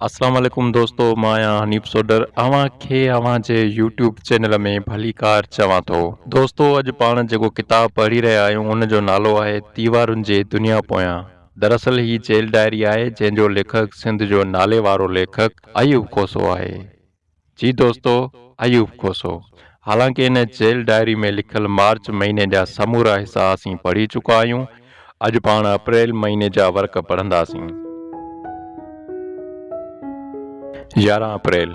السلام عليڪم دوستو مان آهيان حنيف سوڊر اوهان کي اوهان جي يوٽيوب چينل ۾ ڀليڪار چوان ٿو دوستو اڄ پاڻ جيڪو ڪتاب پڙهي رهيا آهيون ان جو نالو آهي ديوارن جي دنيا پويان دراصل هي جيل ڊائري آهي جنهن جو ليکڪ سنڌ جو ناليوارو ليکڪ ايوب کوسو آهي جي دوستو ايوب کوسو حالانڪ ان جيل ڊائري ۾ لکيل مارچ مهيني جا سمورا حصا اسين پڙهي چڪا آهيون اڄ پاڻ اپريل مهيني جا ورق پڙهنداسين. يارهن اپريل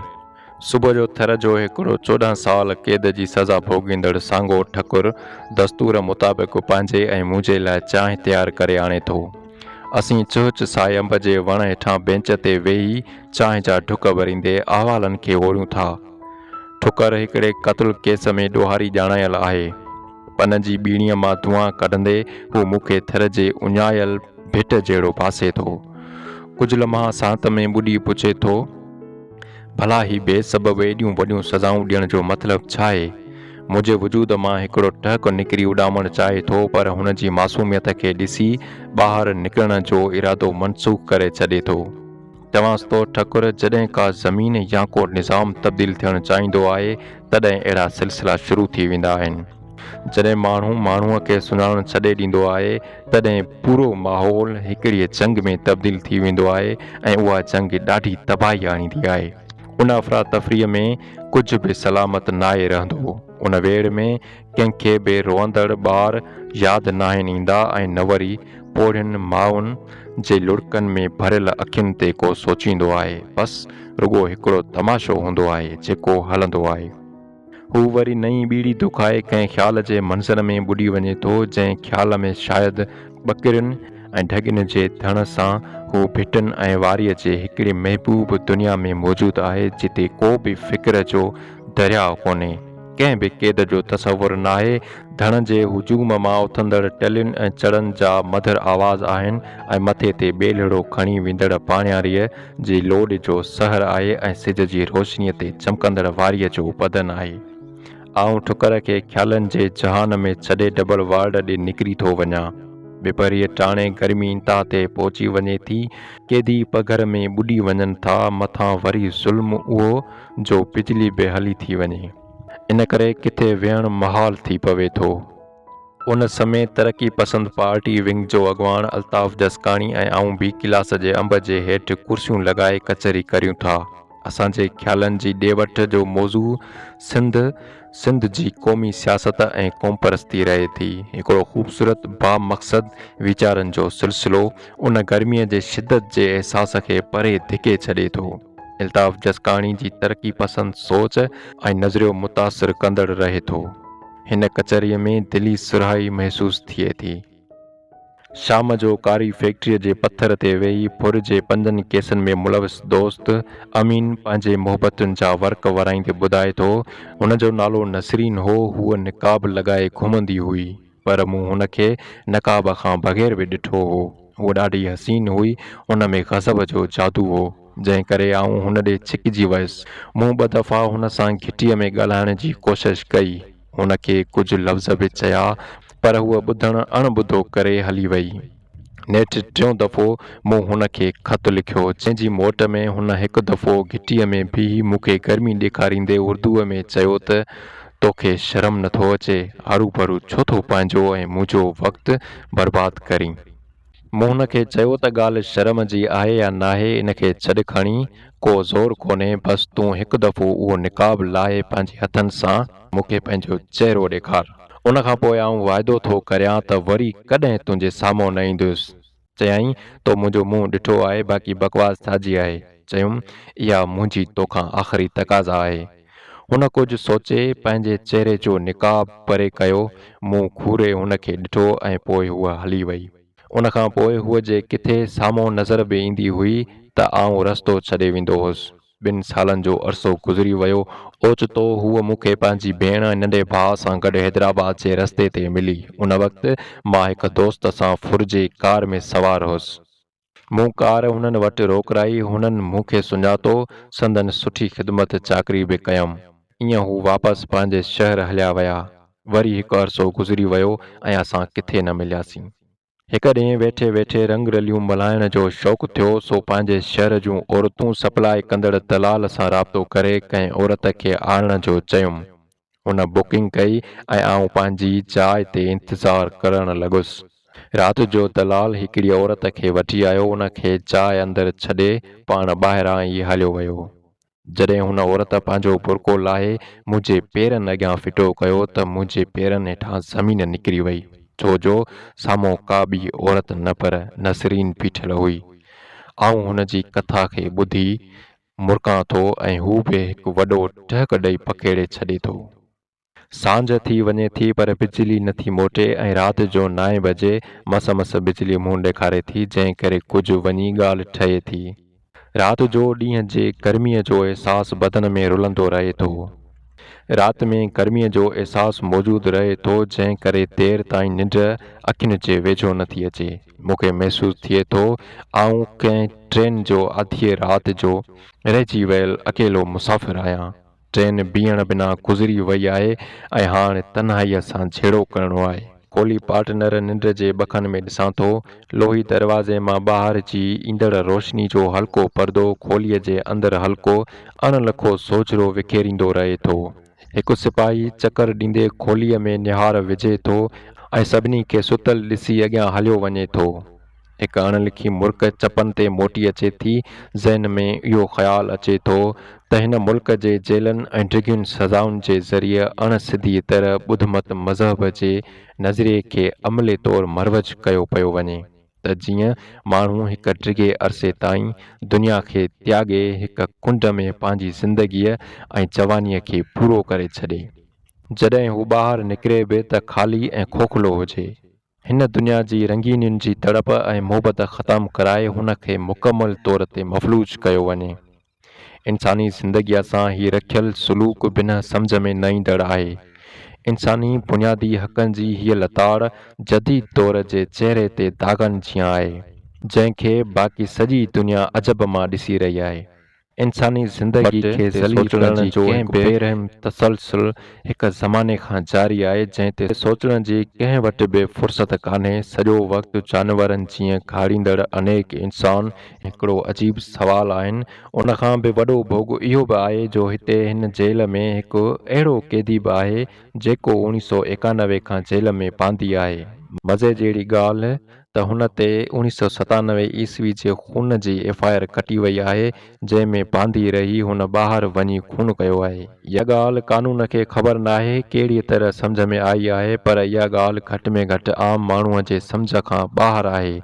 صبح جو ٿر جو هيڪڙو چوڏهن سال قيد جي سزا ڀوڳيندڙ سانگو ٺڪر دستور مطابق پنهنجي ۽ منهنجي لاء چانهه تيار ڪري آڻي ٿو. اسين چهچ ساء انب جي وڻ هيٺان بينچ تي ويهي چانهه جا ڍڪ ڀريندي احوالن کي اوريون ٿا. ٺڪر هڪڙي قتل ڪيس ۾ ڏوهاري ڄاڻايل آهي. پن جي ٻيڻيء مان دونهان ڪڍندي هو مون کي ٿر جي اڃايل ڀٽ جهڙو ڀاسي ٿو. ڪجهه لمحا ساهت ۾ ٻڏي پڇي ٿو. ڀلا هي بي سبب ايڏيون وڏيون سزائون ڏيڻ جو مطلب ڇا آهي؟ منهنجي وجود مان هڪڙو ٽهڪ نڪري اڏامڻ چاهي ٿو پر هن جي معصوميت کي ڏسي ٻاهر نڪرڻ جو ارادو منسوخ ڪري ڇڏي ٿو. چوان ٿو ٺڪر جڏهن ڪا زمين يا ڪو نظام تبديل ٿيڻ چاهيندو آهي تڏهن اهڙا سلسلا شروع ٿي ويندا آهن. جڏهن ماڻهو ماڻهوء کي سڃاڻڻ ڇڏي ڏيندو آهي، تڏهن پورو ماحول هڪڙيء جنگ ۾ تبديل ٿي ويندو آهي ۽ اها جنگ ڏاڍي تباهي آڻيندي آهي. ان افراتفريء ۾ ڪجهه به سلامت ناهي رهندو. ان ويڙهه ۾ ڪنهن کي به روئندڙ ٻار ياد ناهن ايندا ۽ نه وري پوڙهين مائن جي لڙڪن ۾ ڀريل اکين تي ڪو سوچيندو آهي. بس رڳو هڪڙو تماشو هوندو آهي، جيڪو هلندو آهي. هو وري نئين ٻيڙي دکائي ڪنهن خيال جي منظر ۾ ٻڏي وڃي ٿو، جنهن خيال ۾ شايد ٻڪرين ۽ ڍڳين جي ڌڻ سان هو ڀٽن ۽ واريء جي هڪڙي محبوب دنيا ۾ موجود آهي، جتي ڪو به فڪر جو درياء ڪونهي، ڪنهن به قيد جو تصور ناهي، ڌڻ جي هجوم مان اٿندڙ ٽلين ۽ چڙن جا مڌر آواز آهن ۽ مٿي تي ٻيلهڙو کڻي ويندڙ پاڻياريء جي لوڏ جو سحر آهي ۽ سج جي روشنيء تي چمڪندڙ واريء جو بدن آهي. آئون ٺڪر کي خيالن جي جهان ۾ ڇڏي ڊبل وارڊ ڏي نڪري ٿو وڃان. ٻپهريء ٽاڻي گرمي انتها تي پهچي وڃي ٿي. قيدي پگهر ۾ ٻڏي وڃن ٿا، مٿان وري ظلم اهو جو بجلي به هلي ٿي وڃي. ان ڪري ڪٿي ويهڻ محال ٿي پوي ٿو. ان سمي ترقي پسند پارٽي ونگ جو اڳواڻ الطاف جسڪاڻي ۽ آئون بي ڪلاس جي انب جي هيٺ ڪرسيون لڳائي ڪچهري ڪريون ٿا. اسان جي خيالن جي ڏي وٺ جو موضوع سنڌ، سنڌ جي قومي سياست ۽ قومپرستي رهي ٿي. هڪڙو خوبصورت با مقصد ويچارن جو سلسلو ان گرمي جي شدت جي احساس کي پري ڌڪي ڇڏي ٿو. الطاف جسڪاڻي جي ترقي پسند سوچ ۽ نظريو متاثر ڪندڙ رهي ٿو. هن ڪچهريء ۾ دلي سرهائي محسوس ٿئي ٿي. شام جو ڪاري فيڪٽريء جي پٿر تي ويهي ڦر جي پنجن ڪيسن ۾ ملوث دوست امين پنهنجي محبتن جا ورق ورائيندي ٻڌائي ٿو، هن جو نالو نسرين هو، هوء نقاب لڳائي گهمندي هئي، پر مون هن کي نقاب کان بغير به ڏٺو هو. هوء ڏاڍي حسين هئي، ان ۾ غضب جو جادو هو. جنهن ڪري آئون هن ڏي ڇڪجي ويس. مون ٻه دفعا هن سان گهٽيء ۾ ڳالهائڻ جي ڪوشش ڪئي. هن کي ڪجهه لفظ به چيا، پر هوء ٻڌڻ اڻ ٻڌو ڪري هلي وئي. نيٺ ٽيون دفعو مون هن کي خط لکيو، جنهن جي موٽ ۾ هن هڪ دفعو گهٽيء ۾ بيهي مون کي گرمي ڏيکاريندي اردوء ۾ چيو ته، تو کي شرم نه ٿو اچي، هروڀرو ڇو ٿو پنهنجو ۽ منهنجو وقت برباد ڪرين؟ مون هن کي چيو ته ڳالهه شرم جي آهي يا ناهي ان کي ڇڏ کڻي ڪو زور ڪونهي بس تون هڪ دفعو اهو نقاب لاهي پنهنجي هٿن سان مون کي پنهنجو چهرو ڏيکار ان کان پوء آئون واعدو ٿو ڪريان ته وري ڪڏهن تنهنجي سامهون نه ايندس چيائين تو منهنجو منهن ڏٺو آهي باقي بڪواس ٿاجي آهي چيم اها منهنجي توکان آخري تقاضا آهي. هن ڪجهه سوچي پنهنجي چهري جو نقاب پري ڪيو، مون گهوري هن کي ڏٺو ۽ پوء هوء هلي وئي. ان کان پوء هوء جي ڪٿي سامهون نظر به ايندي هئي ته آئون رستو ڇڏي ويندو هوس. ٻن سالن جو عرصو گذري ويو. اوچتو هوء مون کي پنهنجي ڀيڻ ۽ ننڍي ڀاء سان گڏ حيدرآباد جي رستي تي ملي. ان وقت مان هڪ دوست سان ڦرجي ڪار ۾ سوار هوس. مون ڪار هنن وٽ روڪرائي، هنن مون کي سڃاتو، سندن سٺي خدمت چاڪري به ڪيم. ايئن هو واپس پنهنجي شهر هليا ويا. وري هڪ عرصو گذري ويو ۽ اسان ڪٿي نه ملياسين. هڪ ڏينهن ويٺي ويٺي رنگ رليون ملهائڻ جو شوق ٿيو، سو پنهنجي شهر جون عورتون سپلاء ڪندڙ دلال سان رابطو ڪري ڪنهن عورت کي آڻڻ جو چيم. هن بڪنگ ڪئي ۽ آئون پنهنجي جاء تي انتظار ڪرڻ لڳس. رات جو دلال هڪڙي عورت کي وٺي آيو، ان کي جاء اندر ڇڏي پاڻ ٻاهران ئي هليو ويو. جڏهن هن عورت پنهنجو برقعو لاهي منهنجي پيرن اڳيان ڦٽو ڪيو ته منهنجي پيرن هيٺان زمين نڪري وئي، ڇو جو سامهون ڪا ٻي عورت نه پر نسرين بيٺل هئي. آئون هن جي ڪٿا کي ٻڌي مرڪان ٿو ۽ هو به هڪ وڏو ٽهڪ ڏئي پکيڙي ڇڏي ٿو. سانجهه ٿي وڃي ٿي پر بجلي نه ٿي موٽي ۽ رات جو نائين بجي مس مس بجلي منهن ڏيکاري ٿي جنهن ڪري ڪجهه وڃي ڳالهه ٺهي ٿي. رات جو ڏينهن جي گرميء جو احساس بدن ۾ رلندو رهي ٿو. رات ۾ گرميء جو احساس موجود رهي ٿو جنهن ڪري دير تائين ننڊ اکين جي ويجهو نه ٿي اچي. مون کي محسوس ٿئي ٿو آئون ڪنهن ٽرين جو اڌيء رات جو رهجي ويل اڪيلو مسافر آهيان. ٽرين بيهڻ بنا گذري وئي آهي ۽ هاڻ تنهائيء سان جهيڙو ڪرڻو آهي. ڪولهي پارٽنر ننڊ جي ٻڪن ۾ ڏسان ٿو. لوهي دروازي مان ٻاهر جي ايندڙ روشني جو هلڪو پردو کوليء جي اندر هلڪو اڻ لکو سوجهرو وکيريندو رهي ٿو. هڪ سپاهي چڪر ڏيندي کوليء ۾ نهار وجهي ٿو ۽ سڀني کي ستل ڏسي اڳيان هليو وڃي ٿو. هڪ اڻ لکي مرڪ چپن تي موٽي اچي ٿي. ذهن ۾ اهو خيال اچي ٿو ته هن ملڪ جي جيلن ۽ ڊگهين سزائن جي ذريعي اڻ سڌيء طرح ٻڌ مت مذهب جي نظريي کي عملي طور مروج ڪيو پيو وڃي. ته جيئن ماڻهو هڪ ڊگهي عرصي تائين دنيا کي تياڳي هڪ ڪنڊ ۾ پنهنجي زندگيء ۽ جوانيء کي پورو ڪري ڇڏي. جڏهن هو ٻاهر نڪري به ته خالي ۽ کوکلو هجي. هن دنيا جي رنگينين جي تڙپ ۽ محبت ختم ڪرائي هن کي مڪمل طور تي مفلوج ڪيو وڃي. انساني زندگيء سان هي رکيل سلوڪ بنهه سمجهه ۾ نه ايندڙ آهي. انساني بنيادي حقن جي هيء لتاڙ جديد دور جي چهري تي داغن جيان آهي، جنهن کي باقي سڄي دنيا عجب مان ڏسي رهي آهي. انساني زندگيء کي ذليل ڪرڻ جو هڪ بي رحم تسلسل هڪ زماني کان جاري آهي، جنهن تي سوچڻ جي ڪنهن وٽ به فرصت ڪانهي، سڄو وقت جانورن جيئن گهاڙيندڙ انيڪ انسان، هڪڙو عجيب سوال آهن ان کان به وڏو ڀوڳ اهو به آهي جو هتي هن جيل ۾ هڪ اهڙو قيدي به آهي جيڪو اوڻي سؤ ايڪانوي کان جيل ۾ باندي آهي مزي جهڙي ڳالهه ته هن تي اوڻي سؤ ستانوي عيسوي جي خون جي ايف آء آر ڪٽي وئي آهي جنهن ۾ باندي رهي هن ٻاهر وڃي خون ڪيو آهي اها ڳالهه قانون کي خبر ناهي ڪهڙي طرح سمجهه ۾ آئي آهي پر اها ڳالهه گهٽ ۾ گهٽ عام ماڻهو جي سمجهه کان ٻاهر آهي.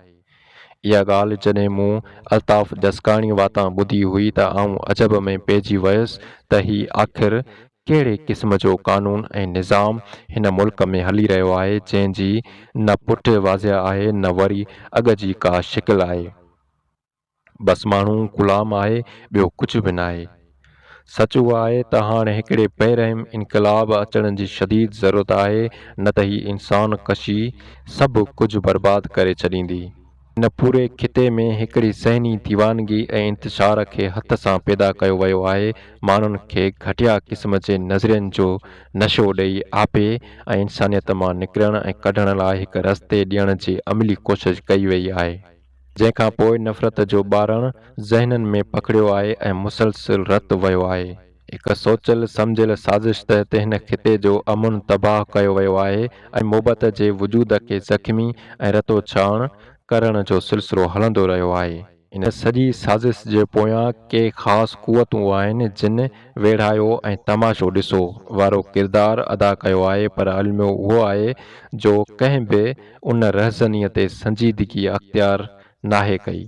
اها ڳالهه جڏهن مون الطاف جسڪاڻي واتان ٻڌي هئي ته آئون عجب ۾ پئجي ويس ته هي آخر ڪهڙي قسم جو قانون ۽ نظام هن ملڪ ۾ هلي رهيو آهي جنهن جي نه پٺ واضح آهي نه وري اڳ جي ڪا شڪل آهي. بس ماڻهو غلام آهي ٻيو ڪجهه به ناهي. سچ اهو آهي ته هاڻ هڪڙي پهرئين انقلاب اچڻ جي شديد ضرورت آهي نه ته هي انسان ڪشي سڀ ڪجهه برباد ڪري ڇڏيندي. هن پوري خطي ۾ هڪڙي ذهني ديوانگي ۽ انتشار کي هٿ سان پيدا ڪيو ويو آهي، ماڻهن کي گهٽيا قسم جي نظرين جو نشو ڏئي آپي ۽ انسانيت مان نڪرڻ ۽ ڪڍڻ لاء هڪ رستي ڏيڻ جي عملي ڪوشش ڪئي ويئي آهي. جنهن کان پوء نفرت جو ٻارڻ ذهنن ۾ پکڙيو آهي ۽ مسلسل رت ويو آهي. هڪ سوچيل سمجهيل سازش تحت هن خطي جو امن تباهه ڪيو ويو آهي ۽ مبعد جي وجود کي زخمي ۽ رتو ڇهاڻ ڪرڻ جو سلسلو هلندو رهيو آهي. ان سڄي سازش جي پويان ڪي خاص قوتون آهن جن ويڙهايو ۽ تماشو ڏسو وارو ڪردار ادا ڪيو آهي پر الميو اهو آهي جو ڪنهن به ان رهزنيء تي سنجيدگيء اختيار ناهي ڪئي.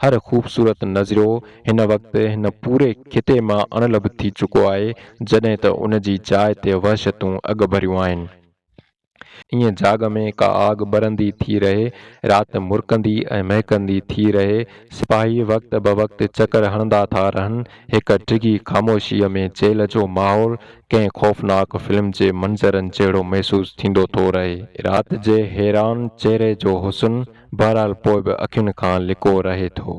هر خوبصورت نظريو هن وقت هن پوري خطي مان اڻلڀ ٿي چڪو آهي، جڏهن ته ان جي جاء تي وحشتون اڳڀريون آهن. ائين جاڳ ۾ ڪا آڳ ٻرندي ٿي رهي، رات مرڪندي ۽ مهڪندي ٿي رهي، سپاهي وقت بوقت چڪر هڻندا ٿا رهن، هڪ ڊگهي خاموشيء ۾ جيل جو ماحول ڪنهن خوفناڪ فلم جي منظرن جهڙو محسوس ٿيندو ٿو رهي. رات جي حيران چهري جو حسن بهرحال پوء به اکين کان لڪو رهي ٿو.